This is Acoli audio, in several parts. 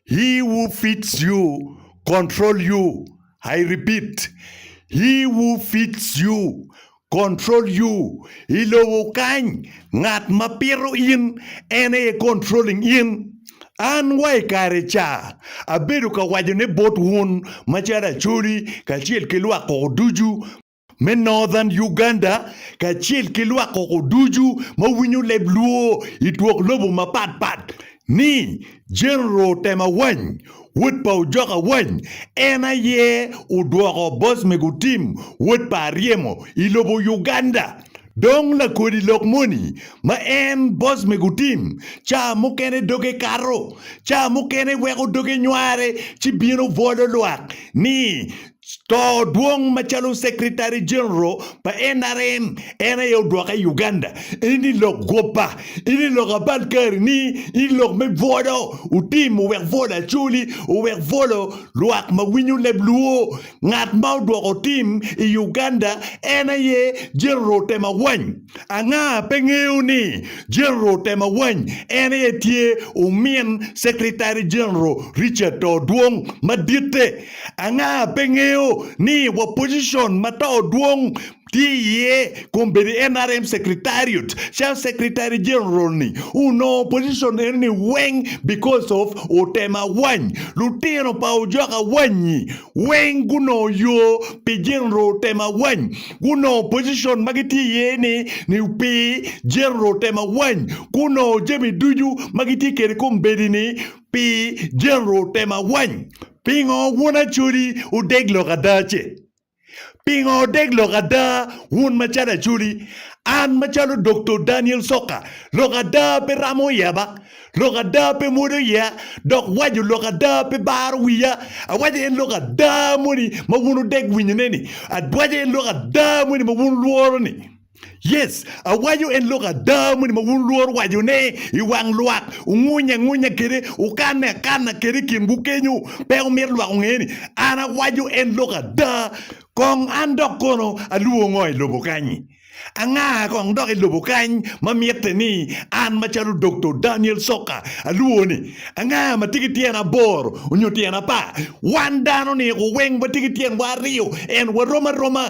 He who feeds you control you, I repeat, He who feeds you control you, I lobo kany ngat ma pito in en aye controlling in. An wa i kare ca abedo ka wacone bot wun macalo Acholi kacel ki lwak koko ducu, me Northern Uganda kacel ki lwak koko ducu ma winyo leb Luo i twok lobo mapat pat ni General Otem Awany, wod pa Ojok Awany, en aye odwoko Bosmego Tim, wod pa Aryemo, i lobo Uganda. Dong lakodi lok moni ma en boss me gutim, ca mukene doge kato, ca mukene weko doge nyware ci bino bwolo lwak ni to dwong macalo Secretary General pa nrm en aye odwoke i Uganda. Eni lok gwoba, eni lok abal kari ni, eni lok me bwolo utim owek bwolo acoli, owek bwolo lwak ma winyo leb luo. Ngat ma odwoko tim i Uganda en aye General Temawany. Anga pe ngeyo ni General Temawany en aye tye omin Secretary General Richard Too Dwong maditte? Anga pe ngeyo ni wa position ma Too Dwong tye iye, kun bedo i NRM Secretariat calo Secretary General ni onongo position eno ni weng because of otem awany. Lutino pa ojok awanyi weng gunongo yo pi General otem awany. Gunongo position ma gitye iye ni ni pi General otem awany. Gunongo jami ducu ma gitye kwede kombeddi ni pi General otem awany. Pingo wun Acholi odeg lok ada ce? Pingo odeg lok ada, wun macalo Acholi? An macalo Doktor Daniel Soka, lok ada pe ramo yeba, lok ada pe mwodo iya, dok waco lok ada pe baro wiya. Awaco en lok ada moni ma wun odeg winyone-ni, awaco en lok ada moni ma wun wulworo-ni. Yes, awaco en lok ada moni ma wun lworo wacone i wang lwak, wungunyo angunya kwede, wukanne akanna kwede i kinwu kenyo. Pe wumito lwak onge ni an awaco en lok ada. Kong an dok kono alwongo ngo i lobo kany-nyi? Anga kong dok i lobo kany ma mitte ni an macalo Doktor Daniel Soka alwongo ni? Anga ma tye ki tyen aboro nyo tyen apar? Wan dano-ni weng watye ki tyenwa aryo, ento warom aroma.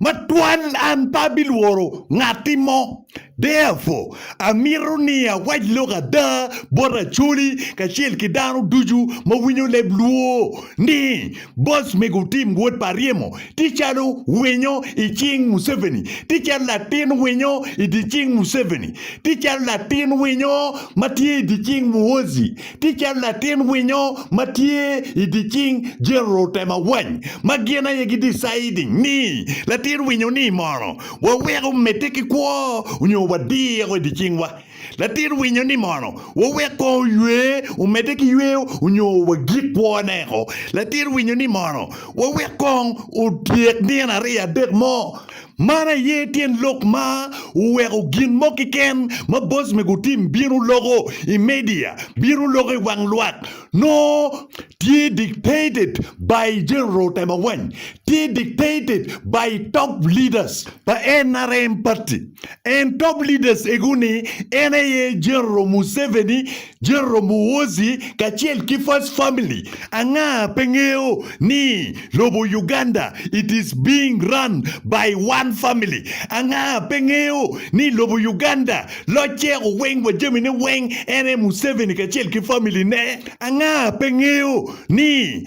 Matwal an pe abilworo ngatti mo. Therefore, amito ni awac lok ada bot Acholi kacel ki dano ducu ma winyo leb Luo ni boss mego otim wot pa ryemo tye calo winyo i cing Museveni, tye calo latin winyo i dye cing Museveni, tye calo latin winyo ma tye i dye cing Muhoozi Tye calo latin winyo ma tye i dye cing jero tema wany ma gin aye gi deciding ni latin winyo ni mono wa weko medde ki kwo onyo wa diro i dye cing wa latin winyo ni mono wa wek kong oywe omedde ki yweyo onyo wa gik kwo ne ko latin winyo ni mono wa wek kong otyek nino ariyo adek mo Man aye tyen lok ma oweko gin mo keken ma boc me gutim bino loko i media, bino loko i wang lwak, nongo tye dictated by General Temawany, tye dictated by top leaders pa nrm party and top leaders ego ni en aye General Museveni, General Muhoozi kacel ki first family anga pe ngeyo ni lobo Uganda it is being run by one family anga pe ngeyo ni lobo Uganda locce oweng wa jami ne weng en aye Museveni kacel ki family ne anga pe ngeyo ni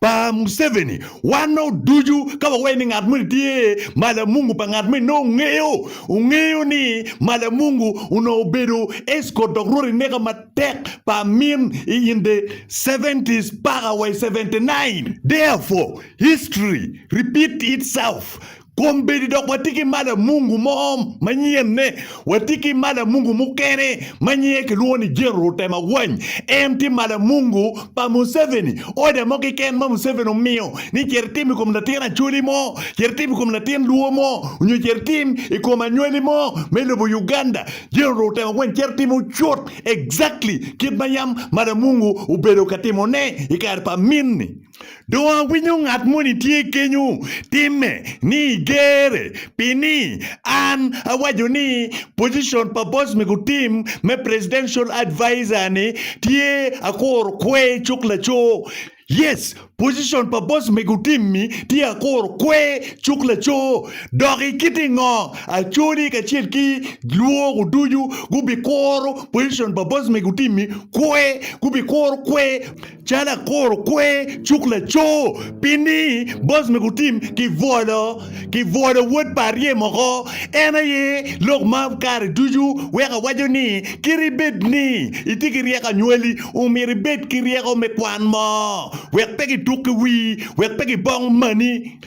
pa Museveni, wan nongo ducu ka wawaye ni ngat moni tye malamungu pa ngat moni nongo ongeyo, ongeyo ni malamungu onongo obedo escort dok rwot ineka matek pa amin i in the seventies paka wa i seventy nine. Therefore, history repeat itself. kombeddi dok watye ki malo mungu mo manyenne. Watye ki malo mungu mukene ma nyinge kilwongo ni Gen. Rutem Awany. En tye malo mungu pa Museveni. Oda mo keken ma Museveni omiyo ni cit itim i kom latin Acholi mo, cit itim i kom latin Luo mo, nyo cit itim i kom anywali mo me lobo Uganda, Gen. Rutem Awany cito timo cut exactly kit ma yam malo mungu obedo ka timone i kare pa amin-ni. Dong awinyo ngat moni tye kenyo timme ni gere pi ni an awaco ni position pa boss me gutim me presidential advisor ni tye akuro kwe cuk laco. Yes, position pa boss me gutim ni tye akuro kwe cuk laco. Dok i kiti ngo Acholi kacel ki lwogo ducu gubikuro position pa boss me gutim ni kwe, gubikuro kwe. Calo akuro kwer cuk laco pi ni boss me gutim ki bwolo ki bwolo wod pa arye moko en aye lok ma kare ducu weko awaco ni kit ibed ni itye ki ryeko anywali omyero ibed ki ryeko me kwan mo wek pe gituk ki wii wek pe gibong mani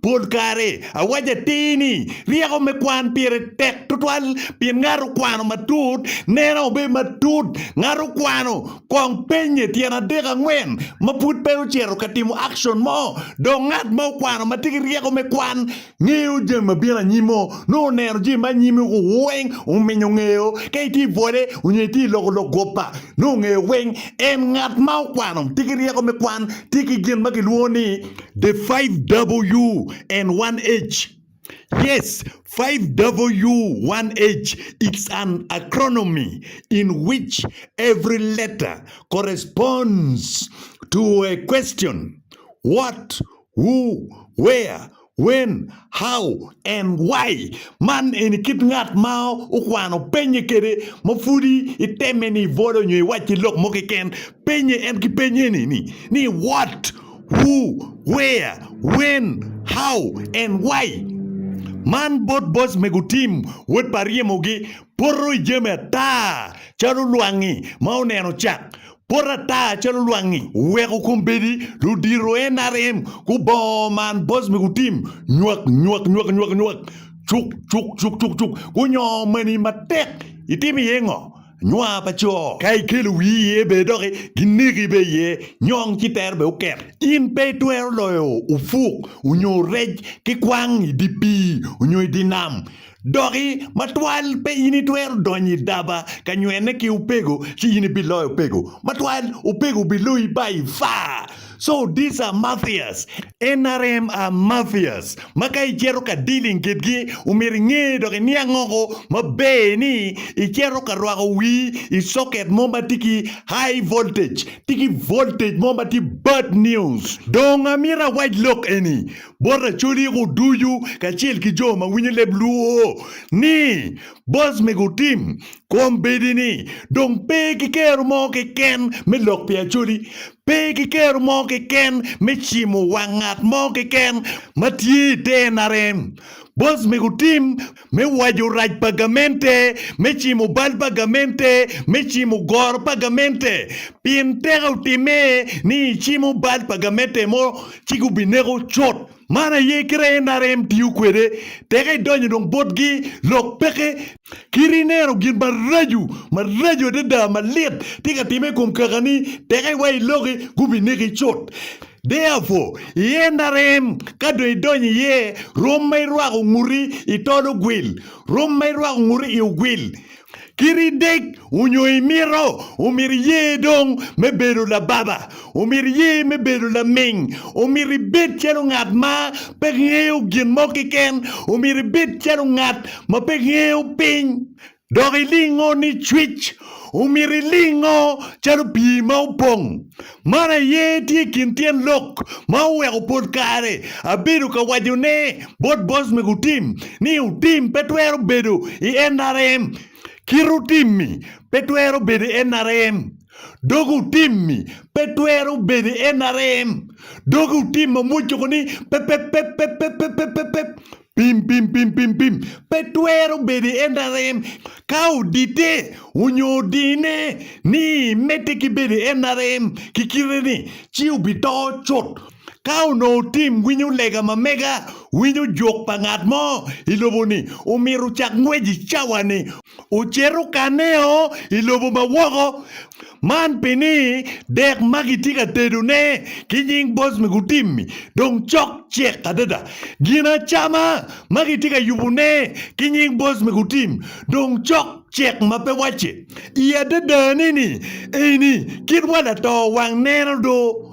Pol kare awaco atir ni ryeko me kwan pire tek tutwal pien ngat okwano matut neno obedo matut. Ngat okwano kong pennye tyen adek angwen ma pud pe ocito ka timo akcon mo. Dok ngat ma okwano ma tye ki ryeko me kwan ngeyo jami ma bino anyim-mo. Nongo oneno jami ma anyim-mi weng ominyo ngeyo. Ka itye i bwole onyo itye i loko lok guppa, nongo ongeyo weng. En ngat ma okwano tye ki ryeko me kwan tye ki gin ma kilwongo ni The 5W1H, Yes, 5W1H is an acronomy in which every letter corresponds to a question, What, Who, Where, When, How, and Why. Man eni kit ngat ma okwano penye kede ma pudi iteme ni ibolo nyo iwacci lok mo keken, penye en ki peny eni ni, What, Who, Where, When, How, and Why. Man bot boc me gutim wod pa ryemogi poto i jami ata calo lwangi ma oneno cak. Pot ata calo lwangi oweko kombeddi ludito NRM gubongo man boc me gutim nywak nywak nywak nywak nywak cuk cuk cuk cuk cuk gunyongo mani matek. Itimo iye ngo? nwa pa co. Ka ikelo wii iye bene dok gineki bene iye, nyong ci tero bene oket. In pe itwero loyo opuk onyo rec ki kwang i di pii onyo i di nam. Doki matwal pe in itwero donyo i daba ka nywene ki opego ci in ibiloyo opego. Matwal opego biloyi ba ifa. So these are mafias, nrm are mafias ma ka icito ka dealing kitgi omyero inge dok iniang oko maber ni icito ka rwako wii i socket mo ma tye ki high voltage, tye ki voltage mo ma tye bad news. Dong amyero awac lok eni bot Acholi ko ducu kacel ki jo ma winyo leb luo ni boss mego otim kombeddi ni dong pe ki kero mo keken me lok pi Acholi Pe kiketo mo keken me cimo wang ngat mo keken ma tye i te NRM. Bos mego tim me waco rac pa gamente me cimo bal pa gamente me cimo goro pa gamente pien teke otime ni i cimo bal pa gamente mo ci gubineko cut. Man aye kite NRM tiyo kwede teke idonyo dong botgi lok peke. Kit ineno gin maraco, maraco adada, malit tye ka timme i kom kakani, teke iwa i loki, gubineki cut. Therefore, i en arem, ka dong idonyo iye, rwom ma irwako nguti i tol ogwil, rwom ma irwako nguti i ogwil. Kit idek onyo imito, omyero iye dong me bedo lababa. Omyero iye me bedo laming. Omyero ibed calo ngat ma pe ngeyo gin mo keken. Omyero ibed calo ngat ma pe ngeyo piny. Dok ilingo ni cwic. Omyero ilingo calo pii ma opong. Man aye tye i kin tyen lok ma oweko pol kare abedo ka wacone bot boss mego Tim ni otim pe twero bedo i NRM. Kite otim-mi pe twero bedo NRM. Doge otim-mi pe twero bedo NRM. Doge otim ma mwocoko ni pe pe pe pe pe pe pe pe pe pim pim pim pim pim pe twero bedo NRM. Ka odite onyo odine ni mete ki bedo NRM ki kite ni ci obi to cut. Ka onongo tim winyo lega ma mega winyo jok pa ngat mo i lobo-ni, omyero ocak ngwec i cawa-ni, ocit okaneo i lobo ma woko. Man pi ni dek ma gitye ka tedone ki nying boc me gutim-mi dong cok cek adada. Gin acama ma gitye ka yubone ki nying boc me gutim dong cok cek ma pe wacce. I adadane-ni, eni kit wa lato wang neno do.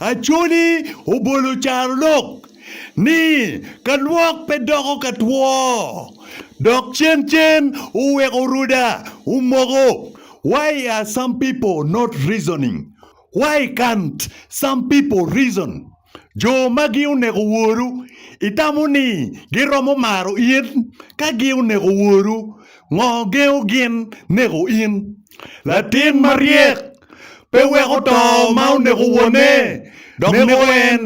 Acholi obolo carolok ni ka lwok pe doko ka two dok cen cen oweko ruda omoko why are some people not reasoning why can't some people reason jo magi oneko woru itamo ni giromo maro in ka gi oneko woru Ngo gengo gin neko in? Latin maryek pe weko to ma oneko wone dok neko en.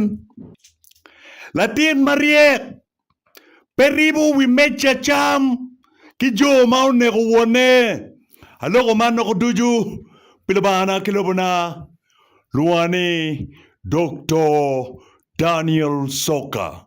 Latin maryek pe ribo wi meja cam ki jo ma oneko wone. Aloko man loko ducu pi Lubangana ki lobona. Lwonga ni Doktor Daniel Soka.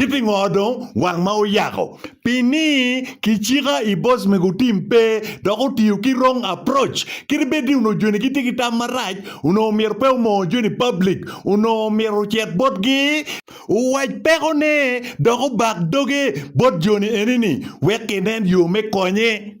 Ki pingo dong wang ma oyako? Pi ni ki cika i boss mego otim pe dok otiyo ki wrong approach. Kit bed ni onongo joni gitye ki tam marac, onongo myero pe omongo joni public, onongo myero ocit bot gi, owac peko ne dok obak doge bot joni eni ni wek ginen yo me konye.